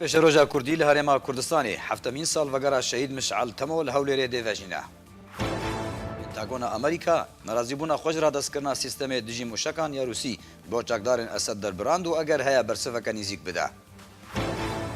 Pêşeroja Kurdî li Herêma Kurdistanê, heftemîn salvegera Şehîd Mişal Temo li Hewlêrê dê vejîne. Pentagona Amerîka, nerazîbûna xwe ji radestkirina sîstemê dijî mûşekan ya Rûsî, bo çakdarên Esed derbirand û eger heye bersiveke nîzîk bide.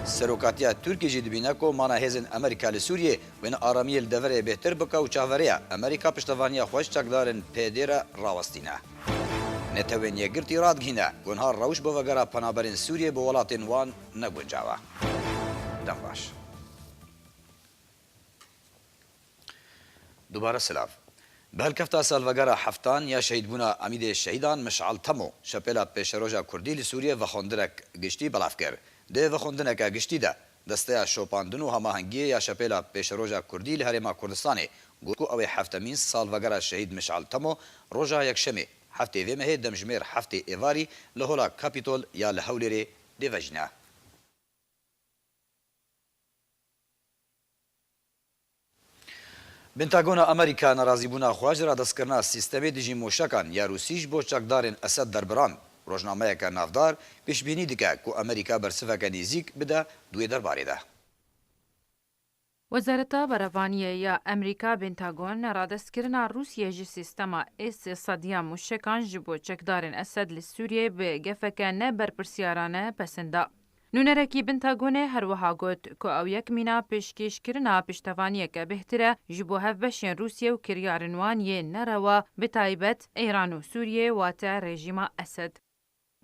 Serokatiya Tirkî jî dibîne ku mana hêzên Amerîka li Sûriyê, wêne aramiyê li deverê bêhtir bike û çaveriya Amerîka piştevaniya xwe ji çakdarên PYD'ê re rawestîne. Netewên Yekgirtî radgihîne, gunha rewş bo vegera penaberên Sûriyê bo welatên wan ne guncaw e. Dem baş. Dubare silav. Bi hilkefta salvegera heftan ya şehîdbûna Emîdê Şehîdan Mişal Temo, Şepêla Pêşeroja Kurdî li Sûriyê vexwendineke giştî belav kir. Di vexwendineke giştî de Desteya Şopandin û Hamahengiyê ya Şepêla Pêşeroja Kurdî li Herêma Kurdistanê got ku ew ê heftemîn salvegera Şehîd Mişal Temo roja Yekşemê heftê vê mehê demjimêr heftê êvarî li Hola Capitol ya li Hewlêrê bê vejîna. Pentagona Amerîka nerazîbûna xwe ji radestkirina sîstemê dijî moşekan ya Rûsî ji bo çekdarên Esed derbirand. Rojnameyeke navdar pêşbînî dike ku Amerîka bersiveke nêzîk bide di wê derbarê de. Wezareta Berevaniyê ya Amerîka Pentagon neradestkirina Rûsiyê ji sîstema S-sad ya moşekan ji bo çekdarên Esed li Sûriyeyê bi gefeke ne berpirsyarane pesend da. Nûnerekî Bintagonê her wiha got ku ew yek mîna pêşkêşkirina piştevaniyeke bêhtir e ji bo hevbeşên Rûsye û kiryarên wan yên nerewa bi taybet Îran û Sûriyeyê wate rejîma Esed.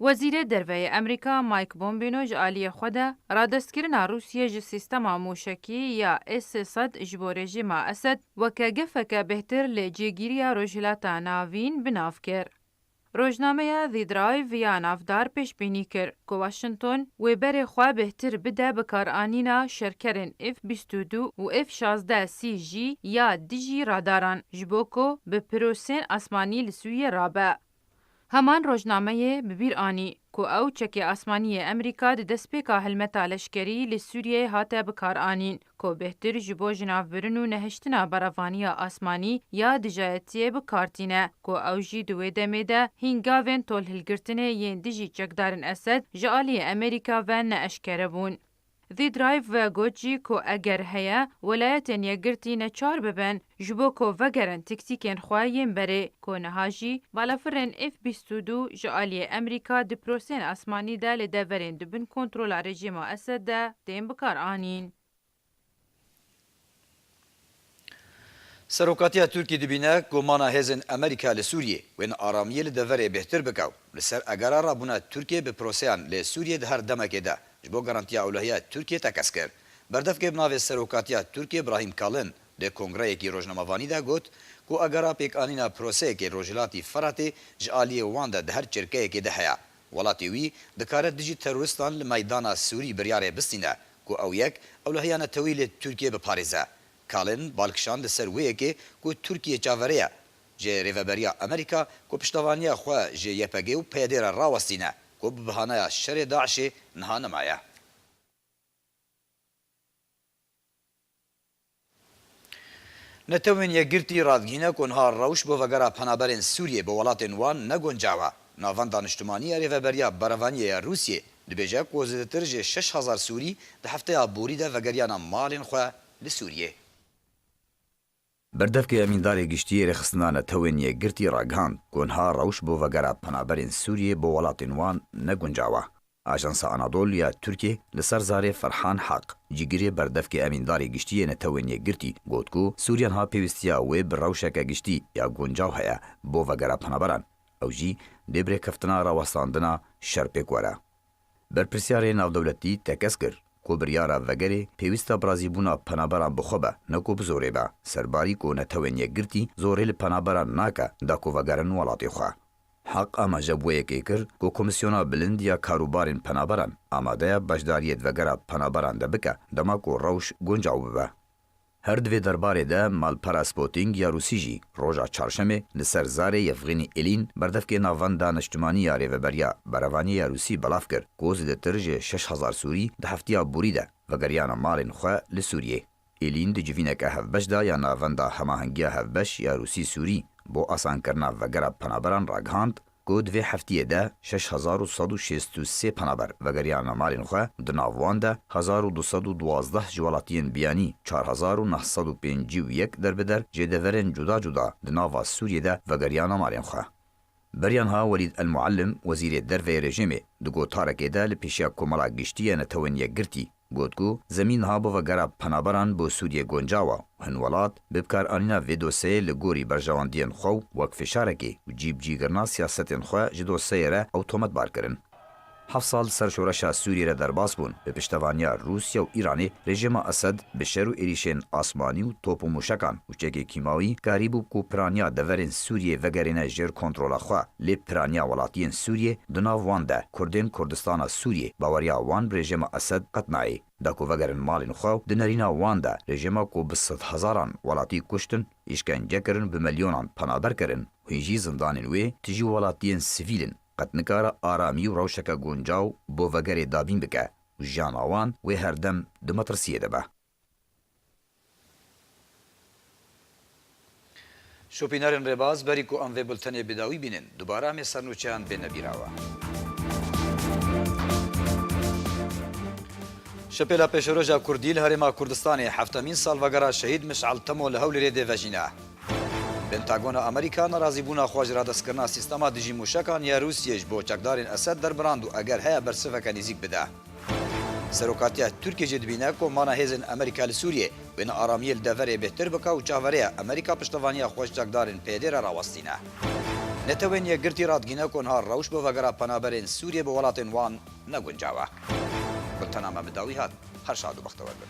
Wezîrê Derveyê Amerîka Mike Bombino ji aliyê xwe de radestkirina Rûsye ji sîstema mûşekî ya S-400 ji bo rejîma Esed weke gefeke bêhtir lê cêgîriya Rojhilata Navîn bi nav kir. Rojnameya The Drive ya navdar pêşbînî kir ku Washington wê berê xwe bêhtir bide bikaranîna şerkerên F bîst û du û F şazdeh C jî ya dijî radaran ji bo ku bi pirosên asmanî li Sûriyê rabe. Heman rojnameyê bi bîr anî ku ew çekê asmanî yê Amerîka di destpêka hilmeta leşkerî li Sûriyeyê hate bikaranîn ku bêhtir ji bo jinavbirin û nehiştina beravaniya asmanî ya dijayetiyê bikartîne ku ew jî di wê demê de hîn gavên tolhilgirtinê yên dijî çekdarên Esed ji aliyê Amerîka ve ne eşkere bûn. Vî Drive ve got jî ku eger heye welayetên yekgirtî neçar bibin ji bo ku vegerin tiktîkên xwe yên berê ku niha jî balafirên F bîst û du ji aliyê Emerîka di piroseyên asmanî de li deverên di bin kontrola rejîma Esed de tên bikaranîn. Serokatiya Tirkî dibîne ku mana hêzên Amerîka li Sûriyê wêne aramiyê li deverê bêhtir bike û li ser egera rabûna Tirkiyê bi proseyan lê Sûriyê di her demekê de ji bo garantiya ewlehiya Tirkiyê tekez kir. Berdevkê bi navê Serokatiya Tirkiyê Brahîm Kalin di kongreyekî rojnamevanî de got ku egera pêkanîna proseyekê Rojhilatî Firatê ji aliyê wan de di her çirkeyekê de heye. Welatê wî dikare dijî terorîstan li meydana sûrî biryarê bistîne ku ew yek ewlehiya neteweyî li Tirkiyeyê biparêze. Kalin bal kişand li ser wê yekê ku Tirkiye çaverê ye ji Rêveberiya Amerîka ku piştevaniya xwe ji YPG û PYD re rawestîne ku bi bihanaya şerê DAIŞ'ê niha nemaye. Netewên Yekgirtî radgihîne ku niha rewş bo vegera penaberên Sûriyê bo welatên wan ne guncaw e. Navenda Niştimanî ya Rêveberiya Berevaniyê ya Rûsiyê dibêje ku zêdetir ji şeş hezar Sûrî di hefteya borî de vegeriyana malên xwe li Sûriyê. Berdevkê Emîndarê Giştîyê Rêxistina Netewên Yekgirtî ragihand ku niha rewş bo vegera penaberên Sûrîyê bo welatên wan ne guncawa. Ajansa Anadol ya Tirkê li ser zarê Ferhan Haq, cîgirê berdevkê Emîndarê Giştîyê Netewên Yekgirtî got ku Sûrîya niha pêwîstîya wê bi rewşeke giştî ya guncaw heye bo vegera penaberan, ew jî dê bi rêkeftina rawestandina şer pêk were. Berpirsyarê Navdewletî tekez kir ku biryara vegerê pêwîsta bi razîbûna penaberan bi xwe be ne ku bi zorê be. Serbarî ku Netewên Yekgirtî zorê li penaberan nake da ku vegerin welatê xwe. Heq amaje bi wê yekê kir ku Komîsyona Bilind ya Karûbarên Penaberan amade ye beşdariyê di vegera penaberan de bike dema ku rewş guncaw bibe. Her di vê derbarê de malpera Spotting ya Rûsî jî roja Çarşemê li ser zarê Yevghenî Elîn berdevkê navenda Neştimanî ya Rêveberiya Berevaniyê ya Rûsî belav kir ku zêdetir ji şeş hezar Sûrî di heftiya borî de vegeriyane malên xwe li Sûriyê. Elîn di civîneke hevbeş de ya navenda Hemahengiya Hevbeş ya Rûsî-Sûrî bo asankirina vegera penaberan ragihand, ku di vê heftiyê de şeş hezar û sed û şêst û sê penaber vegeriyane malên xwe, di nav wan de hezar û du sed û duwazdeh ji welatiyên biyanî, çar hezar û neh sed û pêncî û yek der bi der jê deverên cuda cuda di nava Sûriyê de vegeriyane malên xwe. Beryanha Welîd El Muallim, wezîrê derveyê rejêmê, di gotarekê de li pêşiya Komela Giştî ya Netewên Yekgirtî, got ku zemîn niha bova gera penaberan bo Sûriyê goncawa û hin welat bi bikaranîna vê dosyeyê li gorî berjewendiyên xwe û wek fişarekê û cî bi cî girina siyasetên xwe ji dosyeyê re ew tometbar kirin. Heft sal li ser şoreşa Sûriyê re derbas bûn, bi piştevaniya Rûsya û Îranê rejîma Esed bi şer û êrîşên asmanî û top û mûşekan Bûçegê kîmawî karî bû ku piraniya deverên Sûriyê vegerîne jêr kontrola xwe, lê piraniya welatiyên Sûriyê di nav wan de, kurdên Kurdistana Sûriyê, baweriya wan rejêma Esed qet nayê. Da ku vegerin malên xwe û di nerîna wan de, rejêma ku bi sedhezaran welatî kuştin, îşkence kirin, bi milyonan penaber kirin, hûn jî zindanên wê tijî welatiyên sivîl in, qet nikare aramî û rewşeke guncaw bo vegerê dabîn bike û jiyana wan wê herdem di metirsiyê de be. Şopînarên rêbaz, berî ku em vê bultenê bi dawî bînin, dubare em ê sernûçeyan bêne bîrawa. Şipêla Pêşeroja Kurdî li Herêma Kurdistanê heftemîn salvegera Şehîd Mişal Temo li Hewlêrê dê vejîne. Pentagona Amerîka nerazîbûna xwe ji radestkirina sîstema dijî mûşekan ya Rûsiyê ji bo çekdarên Esed derbirand û eger heye bersiveke nêzîk bide. Serokatiya Tirkiyê jî dibîne ku mana hêzên Amerîka li Sûriyê wêne aramiyê li deverê bêhtir bike û çavere ye Amerîka piştevaniya xwe ji çekdarên PYD re rawestîne. Netewên Yekgirtî radgîne ku niha rewş bo vegera penaberên Sûriyê bi welatên wan ne guncaw e. Gultena me bi dawî hat. Her şad û bextewer bin.